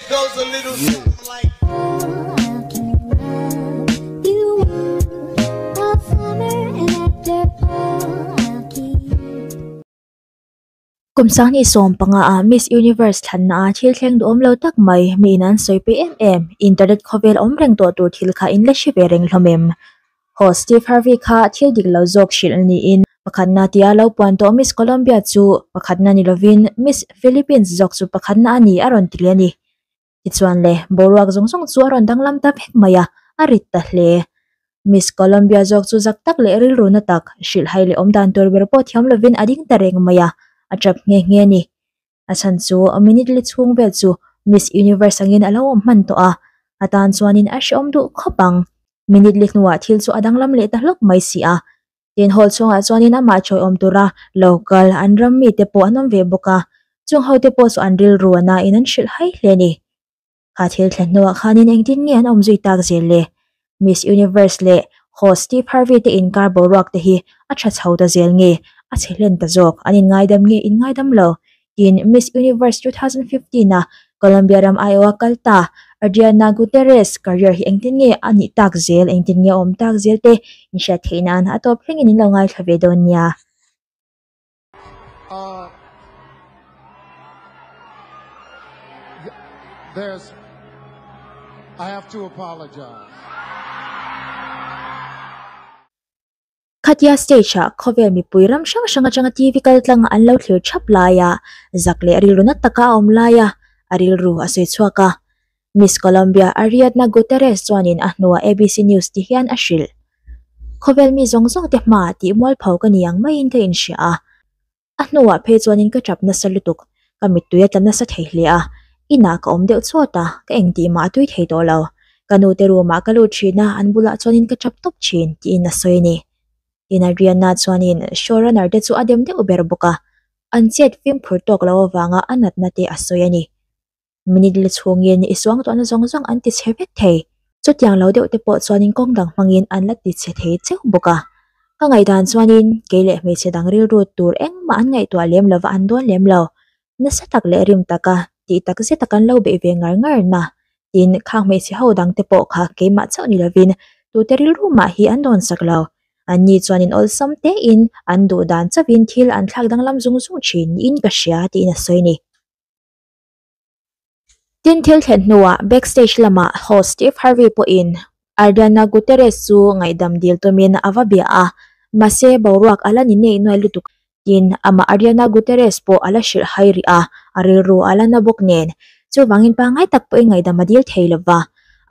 Kum sangni sawm panga ah Miss Universe thlanna ah thil thleng duh awm lo tak mai miin an sawi pe em em, internet khawvel awm reng tawh tur thil kha in la hre ve reng hlawm em? Haw, Steve Harvey kha thil dik lo zawk hrilh niin pakhatna tia lo puan tawh Miss Colombia chu pakhatna ni lovin Miss Philippines zawk chu pakhatna a ni a rawn ti hle a ni. Tichuan le, boruak zawng zawng chu a rawn danglam ta vek mai a, a rit ta hle. Miss Colombia zawk chu zak tak leh rilruna tak, hrilhhai leh awmdan tur ber pawh thiam lovin a ding ta reng mai a, a tap nghe nghe a ni. a chhan chu minute li chhung vel chu miss universe angin a lo awm hman tawh a a tan chuanin a hreawm duh khawp ang minute li hnua thil chu a danglam leh ta hlawp mai si a tin hall chhungah chuanin amah chhawiawm tura local an ram mite pawh an awm ve bawk a chung hote pawh chu an rilru a na in an hrilh hai hle a ni. kha thil thlen hnawah khanin engtin nge an awm zui tak zel le? Miss Universe leh Host Steve Harvey te inkar boruak te hi a tha chho ta zel nge? A chhe hlen ta zawk, an inngaidam nge? Inngaidam lo. Tin, Miss Universe 2015 a Colombia ram Iowa kal ta Adriana Gutierrez career hi engtin nge a nih tak zel, engtin nge a awm tak zel te inhriat theih nan a tawp thlengin in lo ngaithla ve dawn nia. Ahh there's I have to apologize. Khatia stage ah khawvel mipui ram hrang hrang atanga TV kal tlang ah an lo thlir thap lai a, zak leh rilru na taka a awm lai a, a rilru a sawi chhuak a. Miss Colombia Ariadna Gutierrez chuanin a hnu a ABC News ti hian a hrilh. Khawvel mi zawng zawng te hma ah tih mual pho ka ni ang maiin ka inhria a. A hnu ah phei chuanin ka tap nasa lutuk, ka mittui a tla nasa thei hle a. In ah ka awm deuh chhuat a, ka eng tih mah a tui thei tawh lo. Ka nu te room ah ka lut thin a, an bulah chuanin ka tap tawp thin, tiin a sawi a ni. Tin Ariadna chuanin show runner te chu a dem deuh ber bawk a, an chet fimphur tawk lo avanga a natna te a sawi a ni. minute la chhung nge nih i suang tawh na zawng zawng an ti chhe vek thei, chutiang lo deuh te pawh chuanin kawng dang hmangin an la ti chhe thei cheu bawk a, ka ngaihdan chuanin kei leh hmeichhe dang rilrut tur engmah an ngaihtuah lem lova an dawn lem lo, nasa tak leh rim taka tih tak zeta kan lo beih ve ngar ngar na tin khang hmeichhe ho dang te pawh kha keimah chauh ni lovin tute rilru mah hi an dawn sak lo, anni chuanin awlsam tein an duh dan chauhin thil an thlak danglam zung zung thin niin ka hria tiin a sawi a ni. Tin, thil thlen hnuah backstage lama host Steve Harvey pawhin Ariana Gutierrez chu ngaihdam dil tumin a va bia a, Mahse, boruak a la ni nei nuai lutuk in amah Ariana Gutierrez pawh a la hrilh hai rih a, a rilru a la na bawk nen. Chuvangin pangngai tak pawhin ngaihdam a dil thei lo va.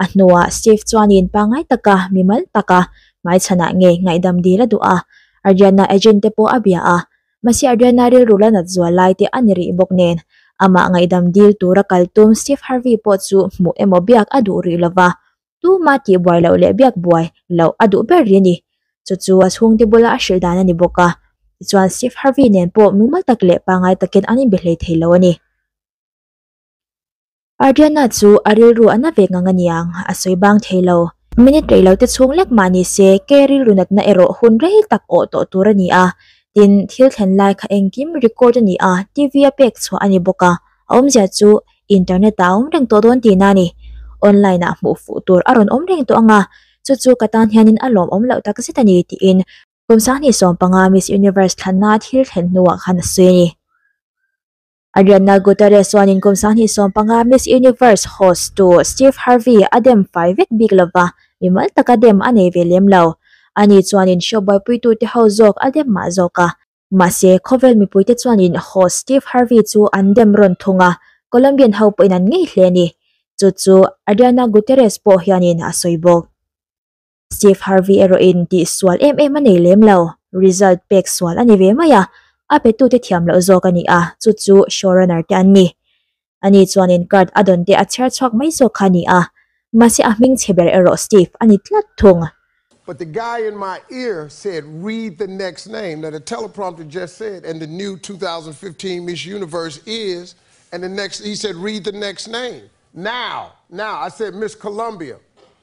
A hnuah Steve chuanin pangngai taka mimal taka hmaichhanah ngei ngaihdam dil a duh a, Ariana agent te pawh a bia a, Mahse a riana rilru la nat zual lai te a ni rih bawk nen, amah ngaihdam dil tura kal tum Steve Harvey pawh chu hmuh emaw biak a duh rih lo va, tuma tihbuai loh leh biak buai loh a duh ber rih a ni. Chu chu a chhungte bula a hrilh dan a ni bawk a, tichuan Steve Harvey nen pawh mumal tak leh pangngai takin an inbe hlei thei lo a ni. Adriana chu a rilru a na ve ngang a niang, a sawi bang thei lo. Minute rei lo te chhung lek mah ni se, kei rilru natna erawh hun rei tak awh tawh tur a ni a. Tin, thil thlen lai kha engkim record a ni a, TV a pek chhuah a ni bawk a, a awmzia chu Internet ah a awm reng tawh dawn ti na a ni. Online ah hmuh fuh tur a rawn awm reng tawh ang a, chu chu ka tan hianin a lawmawm loh tak zet a ni, tiin Kawmsang hnih sawm panga Miss Universe thlanna thil thlen hnuah khan a sawi a ni. Arianna Gutierrez chuanin kum sanghnih sawm panga Miss Universe host tu Steve Harvey a dem fai vek bik lo va, mimal taka dem a nei ve lem lo. Ani chuanin show buaipuitute ho zawk a dem mah zawk a. Mahse, khawvel mipuite chuanin host Steve Harvey chu an dem rawn thung a, Colombian ho pawhin an ngei hle a ni. Chu chu Arianna Gutierrez pawh hianin a sawi bawk. Steve Harvey erawhin tih sual em em a nei lem lo, result pek sual a ni ve mai a, a petute thiam loh zawk a ni a, chu chu showrunner te an ni. Ani chuanin card a dawn te a chhiar chhuak mai zawk kha a ni a, mahse a hming chhe ber erawh Steve a ni tlat thung. But the guy in my ear said read the next name, now the teleprompter just said and the new two thousand and fifteen Miss Universe is and the next he said read the next name, now, now, I said Miss Columbia,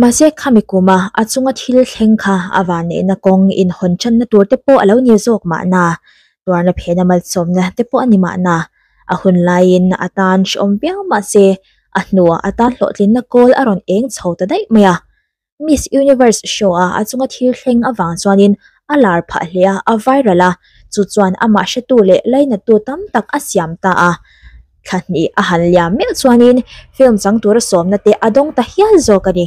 Mahse, khami kûma a chunga thil thleng kha a vân neihna kawng inhawn ṭanna tûr te pawh a lo ni zâwk mahna, tuarna phêna malsâwmna te pawh a ni mahna, a hun laiin a tân hrâwm viau mah se, a hnua a tân hlawhtlinna kâwl a rawn êng chho ta daih mai a. Miss Universe show-a a chunga thil thleng avâng chuanin a lâr phah hle a, a viral a, chu chuan a mahhretu leh lainattu tam tak a siam ta a. thla hnih a han liam miah chuanin film chang tura sawmna te a dawng ta hial zawk a ni.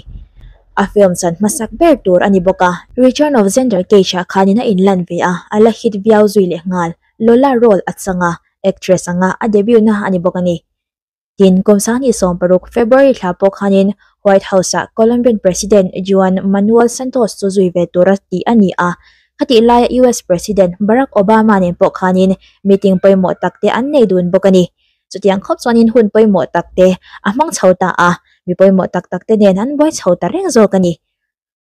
A film chan hmasak ber tur a ni bawk a. Return of Xander Cage ah khanin a in lan ve a, a la hit viau zui leh nghal. Lola role a chang a, actress anga a debut na a ni bawk a ni. Tin, Kawmsahni sawm paruk, February, thla pawh khanin White House ah Colombian President Juan Manuel Santos chu zui ve tura tih a ni a, A tih laia US President Barack Obama nen pawh khanin meeting pawimawh tak te an nei dun bawk a ni. Chutiang khawp chuanin hun pawimawh tak te a hmang chho ta a, mi pawimawh tak tak te nen an buai chho ta reng zawk a ni.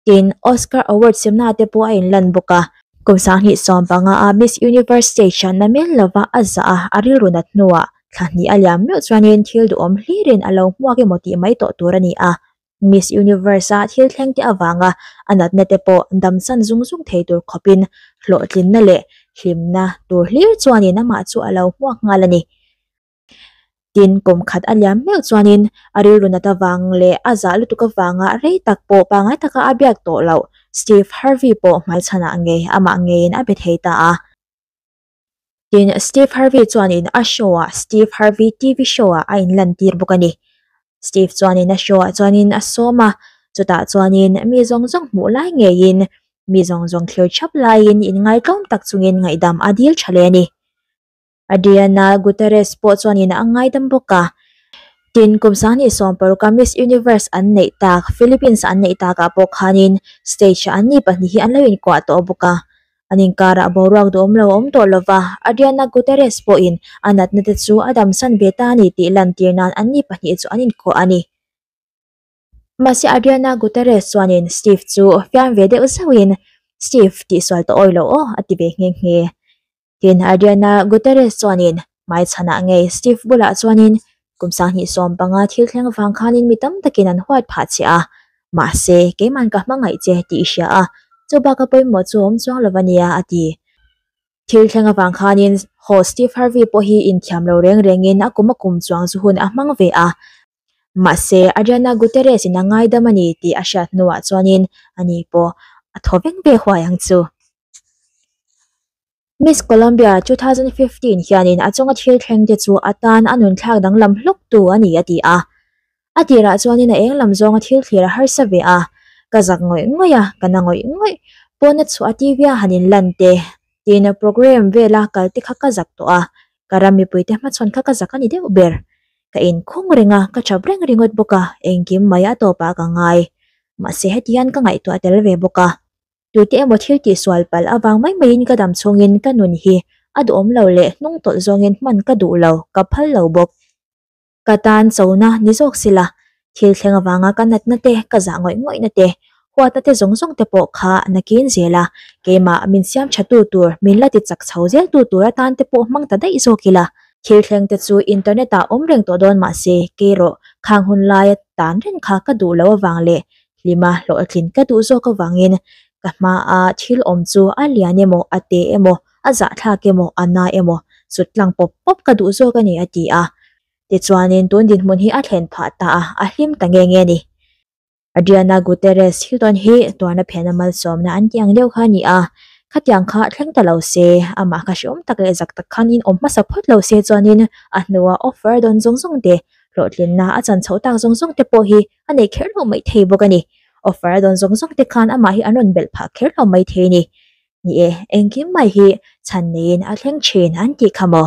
Tin, Oscar Award simna te pawh a inlan bawk a. Kum sanghnih sawm panga a Miss Universe stage ah na mel lova a zah a, a rilrunat hnuah thla hnih a liam meuh chuanin thil duhawm hlirin a lo hmuak emaw tih mai tawh tur a ni a. Miss Universe-a thil thlengte avanga a natnate pawh damsan zung zung thei tur khawpin hlawhtlinna leh hlimna tur hlir chuanin amah chu a lo hmuak nghal a ni. Tin, kawm khat a liam meuh chuanin a rilru nat avang leh a zah lutuk avanga rei tak pawh pangngai taka a biak tawh loh Steve Harvey pawh hmai chhanah ngei amah ngeiin a be thei ta a. Tin, Steve Harvey chuanin a show-a Steve Harvey TV Show-a a inlantir bawk a ni. Steve chuanin a show-ah chuanin a sawm a, chutah chuanin mi zawng zawng hmuh lai ngeiin, mi zawng zawng thlir chap laiin inngaitawm tak chungin ngaihdam a dil tha hle a ni. Adriana Gutierrez pawh chuanin a ngaidam bawk a. Tin, kum sangni sawmpauka Miss Universe an neih tak Philippines-a an neih takah pawh khanin stage-ah an mi pahnih hi an lo inkuah tawh bawk a. an inkar ah boruak duh awm lo awm tawh lo va, Adriana Gutierrez pawhin a natna te chu a damsan ve ta a ni tih lantir nan anni pahnih chu an inkhawh a ni. Mahse Adriana Gutierrez chuanin Steve chu fiam ve deuh zeuh in, Steve, tihsual tawh awilo aw, a ti ve nghe nghe. Tin, Adriana Gutierrez chuanin hmai chhan ah ngei step bulah chuan in kum sanghnih sawm panga thil thleng vang khan in mi tam tak in an huat phah chiah a mahse keiman ka hma ngaih che tih i hria a chu baka pawimawh chu a awm chuang lo ania a ti thil thleng avang khan in haw step harvi pawh hi in thiam lo reng reng in a kum a kum chuang chu hun a hmang ve a mahse ariana guterres in a ngaidam a ni tih a hriat hnu ah chuan in ani pawh a thaw vek ve huai ang chu. Miss Columbia 2015 hianin a chunga thil thleng te chu atan a nun thlak danglam hluk tu a ni a ti a. A tirah chuanin a eng lam zawnga thil thlir a harsa ve a, Ka zak ngawih ngawih a, ka na ngawih ngawih, pawna chhuah a TV a han inlan te, tina programme vela kal te kha ka zak tawh a, ka ram mipui te hmachhawn kha ka zak a ni deuh ber. Ka in khung reng a, ka chap reng ringawt bawk a, engkim mai a tawpah ka ngai, mahse hetian ka ngaihtuah tel ve bawk a. tute emaw thil tih sual palh avang mai mai in ka dam chhung in ka nun hi a duh awm lo leh hnung tawlh zawng in hman ka duh lo ka phal lo bawk ka tan chona ni zawk si la thil thleng avanga ka natna te ka zah ngawih ngawih na te huat na te zawng zawng te pawh kha nakin zel a keimah min siam tha tu tur min la ti chak chho zel tu tur atan te pawh hmang ta daih zawk ila thil thleng te chu internet ah awm reng tawh dawn mah se kei rawh khang hun lai a tan reng kha ka duh lo avang leh hlima hlawh a tlin tla duh zawk avangin ka hmaa thil awm chu a lian emaw, a te emaw, a zahthlak emaw, a na emaw sut tlang pawp pawp ka duh zawk a ni, a ti a. Tichuanin tun dinhmun hi a thlen phah ta a, a hlim ta nge nge ni. Adriana Gutierrez thil dawn hi tuarna phelna malsawmna an tih ang deuh kha a ni a, khatiang kha thleng ta lo se, amah kha hreawm tak leh zak tak khan inawm hmasa phawt lo se chuanin a hnua offer dawn zawng zawng te, hlawhtlinna a chan chhoh tak zawng zawng te pawh hi a nei kher lo mai thei bawk a ni. Offer a dawn zawng zawng te khan amah hi an rawn belh phah kher lo mai thei a ni. Ni e, engkim mai hi chhan neiin a thleng thin an tih kha maw?